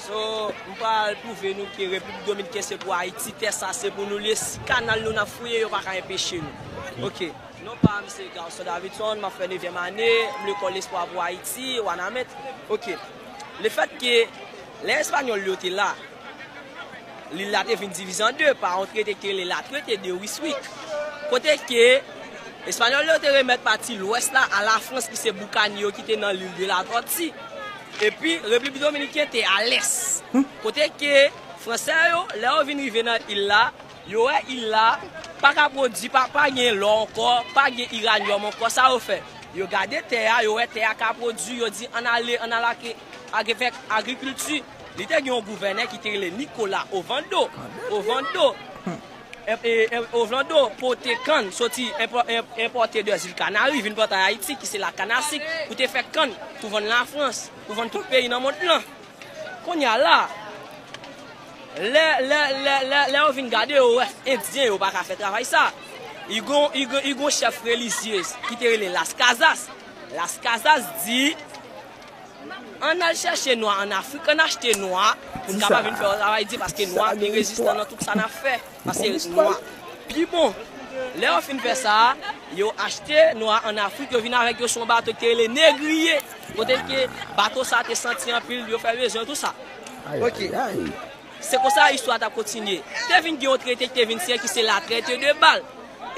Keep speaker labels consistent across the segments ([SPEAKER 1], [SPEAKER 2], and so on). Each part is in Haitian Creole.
[SPEAKER 1] So m pral pwouve nou ke Repiblik Dominken se pou Ayiti, tè sa se pou nou l ye, si kanal nou n ap fouye yo pa ka enpeche nou. Ok. Non pa m se Garçon Davidson, m ap fè nevyèm ane, m lekòl Lespwa pou Ayiti, Wanament. Ok. Le fèt ke lè Espanyòl yo te la, lil la te vin divize an de pa yon trete ki rele La Traite de Ryswick, kote ke Espanyòl yo te remèt pati lwès la a Lafrans ki se boukanye yo ki te nan Lil de la Tortue. Epi Repiblik Dominiken te a lès. Kote ke Fransè yo, lè yo vin rive nan il la, yo wè il la pa ka pwodui, pa gen lò ankò, pa gen iranyòm ankò. Sa yo fè? Yo gade tè a, yo wè tè a ka pwodui, yo di, ann ale, ann al ak avèk agrikilti. Li te gen yon gouvènè ki te rele Nikola Ovando, Ovando. Ovlando pote kann soti enpòte de zil Kanari vin plante an Ayiti ki se la kann a sik pou te fè kann pou vann Lafrans, pou vann tout peyi nan mond lan. Kounye a la, lè yo vin gade yo wè Endyen yo pa ka fè travay sa. I gon chèf relizyez ki te rele Las Casas. Las Casas di. Ann al chèche nwa an Afrik, ann achte nwa pou n kapab vin fè yon travay di paske nwa pi rezistan nan tout sa n ap fè paske nwa pi bon. Lè yo fin fè sa, yo achte nwa an Afrik, yo vin avèk yo sou yon bato ki te rele negriye kote ke bato sa te santi anpil, yo fè bezwen yo tou sa. Ok. Se konsa istwa a t ap kontinye. Te vin gen yon trete ki te vin siyen ki se La Traite de Bal.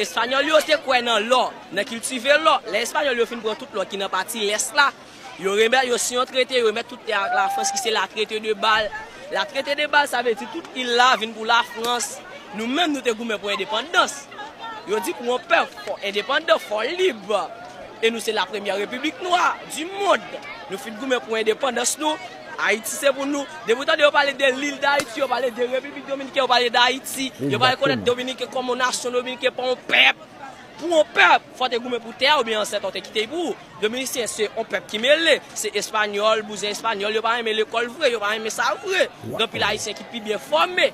[SPEAKER 1] Espanyòl yo te kwè nan lò, nan kiltive lò. Lè Espanyòl yo fin pran tout lò ki nan pati lès la, yo remèt, yo siyen yon trete, yo remèt tout tè a ak Lafrans ki se La Traite de Bal. La Traite de Bal sa vle di tout il la vin pou Lafrans. Nou menm nou te goumen pou endepandans. Yo di pou yon pèp fò endepandan, fò lib. E nou se la premyè repiblik nwa di mond. Nou fin goumen pou endepandans nou. Ayiti se pou nou. Depi ou tande yo pale de lil dayiti, yo pale de repiblik dominiken, yo pale dayiti, yo pa rekonèt dominiken kòm yon nasyon, dominiken pa yon pèp. Pou yon pèp, fò w te goumen pou tè a oubyen ansèt ou te kite li pou ou. Dominisyen se yon pèp ki mele, se espanyòl, bouzen espanyòl, yo pa renmen lekòl vre, yo pa renmen sa vre. Gen anpil ayisyen ki pi byen fòme.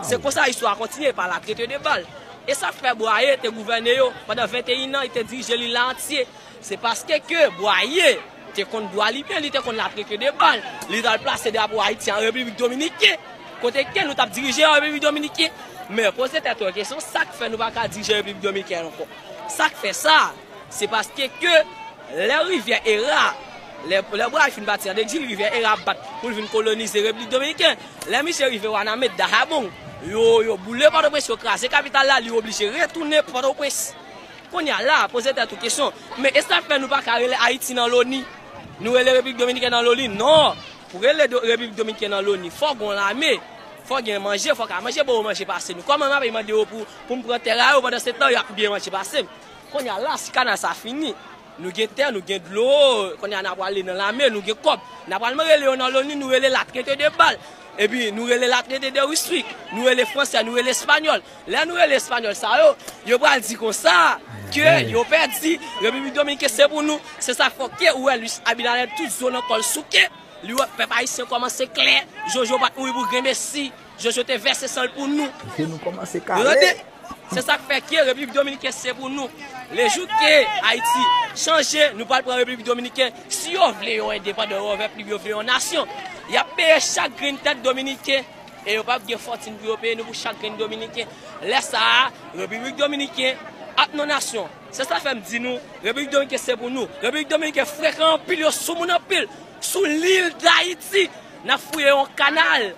[SPEAKER 1] Se konsa istwa a kontinye, pa la trete de bal. E sa k fè Bwaye te gouvène yo pandan 21 an, li te dirije lil la antye, se paske ke Bwaye. te konn dwa li men li te konn la pre ke de bal li tal plase drapo Ayiti an Repiblik Dominiken kote ke nou tap dirije an Repiblik Dominiken men poze tèt ou yon kesyon sak fè nou paka dirije Repiblik Dominiken an ankò sak fè sa se paske ke lè rivyè era lè bway fin pati an Dexil rivyè era ap bat poul vin kolonize Repiblik Dominiken lè misye rive Wanament Dahabong yo boule Pòtoprens yo kraze kapital la li oblije retounen Pòtoprens. Konnya la, poze tèt ou kesyon, men esak fè nou paka rele Haiti nan loni? Nou rele Repiblik Dominiken nan loni? Non! Pou rele Repiblik Dominiken nan loni, fò gon lame, fò gen manje, fò ka manje bon manje pase nou. Kòman map mande yo poum pran tè a yo pandan se tan yap byen manje pasem? Konnya la, si kanal sa fini, nou gen tè, nou gen dlo, konnya na pwale nan lame, nou gen kòb. Na pwale mwen rele yo nan loni, nou rele la trete de bal, epi nou rele la trete de wiswik, nou rele fransè, nou rele espanyòl, Lè nou rele Espanyòl sa yo, yo pral di konsa ke yo pèdi, Repiblik Dominiken se pou nou. Se sa k fè w te wè Luis Abinader tout zo nan kò l souke. Li wè pèp ayisyen kòmanse klè. Jojo pa t mouri pou grenmesi. Jojo te vèse san l pou nou. Tande!
[SPEAKER 2] Se sa k fè
[SPEAKER 1] ke Repiblik Dominiken se pou nou. Le jou ke Ayiti chanje, nou pral pran Repiblik Dominiken. Si yo vle yon endepandan, yon vèp lib, yo vle yon nasyon, y ap peye chak grenn tèt Dominiken. E yo pap gen fòtin pou yo peye nou pou chak grenn dominiken. Lè sa a, Repiblik Dominiken ap nan nasyon. Se sa fè m di nou, Repiblik Dominiken se pou nou. Repiblik Dominiken frekan anpil, yo sou moun anpil. Sou lil Dayiti, n ap fouye yon kanal.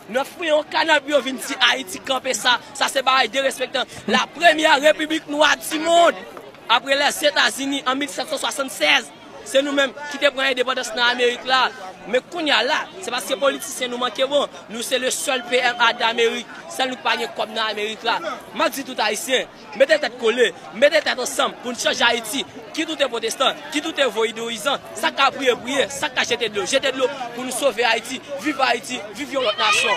[SPEAKER 1] Nou ap fouye yon kanal pou yo vin di Ayiti kanpe sa. Sa se bagay derespektan. La premyè Repiblik nwa di mond, apre Lèzetazini an 1776. Se nou menm ki te pran endepandans nan amerik la, men kounya la se paske politisyen nou manke bon, nou se le sèl pma damerik, sèl nou ki pa gen kòb nan amerik la. Map di tout ayisyen, mete tèt kole, mete tèt ansanm pou n chanje ayiti, kit ou te potestan, kit ou te voidouyizan, sak ka priye priye, sak ka jete dlo jete dlo pou nou sove ayiti, viv ayiti, viv yon lòt nasyon.